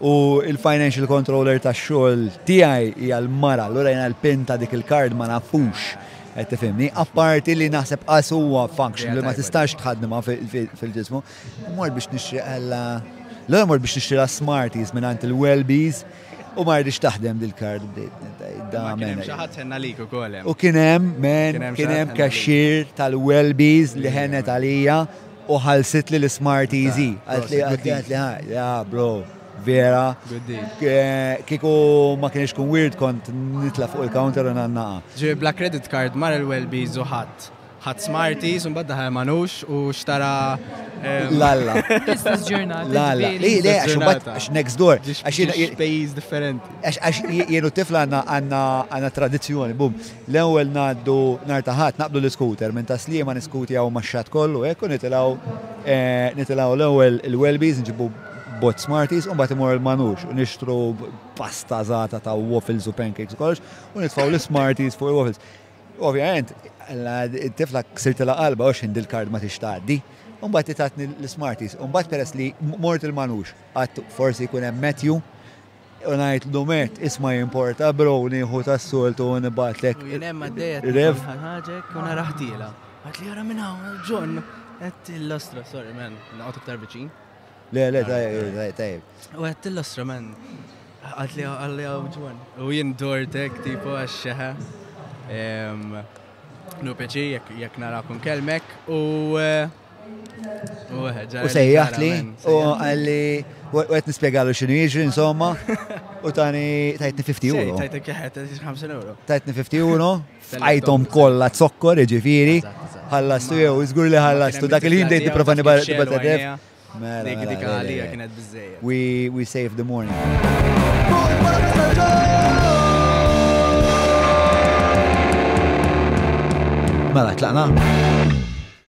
U il-financial controller ta' xogħol tiegħi hija l-mara, allura jiena l-pin ta' dik il-kard ma nafux qed tifhimni, apparti li naħseb qas huwa function li ma tistax tħaddimha fil-ġismu. Mor biex nixtri għalla l mor biex nixtri smarties minn għand il-Welbies u ma rridx taħdem dil-kard da minn. Xaħat senna li kukolem. U kienem, men, kienem kaxxir tal-Welbies li ħenet għalija U ħallsitli l-Smarties hi. Qaltli Prosit, qaltli qaltli ha, ja bro, vera. Good deal. Eh, Kieku ma kienx kun weird kont nitla' fuq il-counter u nannaqa. Ġifieri bla credit card mar il-Welbies u ħadd. Ħadd Smarties u mbagħad daħal Manux u xtara eh, L-alla. L-istess ġurnata. L-alla. ġifieri. Li, le, għax Ġurnata. imbagħad, għax next door. ġiex Għax jien- ġiex pejjiż differenti. għax- għax jien u t-tifla għandna għandna għandna tradizzjoni, bum. L-ewwel ngħaddu nhar ta' Ħadd naqbdu l-iskuter minn ta' Sliema niskutjaw max-xatt kollu hekk u nitilgħu nitilgħu l-ewwel il-Welby's nġibu bot Smarties u mbagħad immorru l-Manux u nixtru pasta żgħata ta' waffles u pancakes u kollox u nitfgħu l-Smarties fuq il-waffles. Ovvjament, it-tifla ksirtilha qalbha għax ħin dil-kard ma tix tgħaddi. U mbagħad itatni l-Smarties. U mbagħad peress li mort il-Manux qatt forsi jkun hemm Matthew U ngħidlu Matt, isma' jimporta bro nieħu tas-soltu u nibgħatlek. U jien hemm għaddejja rev. Ħaġek u naraħtiela. Għad li jara minn hawn John. Għed l-ostra, sorry man, naqgħod iktar viċin. Le, le, tajjeb, tajjeb. U għed l-ostra man, għad li għalli għaw John. U jien dortek tipo għaxxeħa. Nu peċi jekk narakum kelmek u eh, U sejjaħt li, u għalli, u għet nispiegalu xinu jiġri, insomma, u tani tajtni 50 euro. Tajtni kħet, 50 euro. Tajtni 50 euro, fajtom kolla zokkor, ġifiri, ħallastu jew, izgur li ħallastu, dak il-ħin dejt niprofa nibatadef. Mela, dik dik mela, għalija kienet bizzejja. We saved the morning. Mela, tlaqna.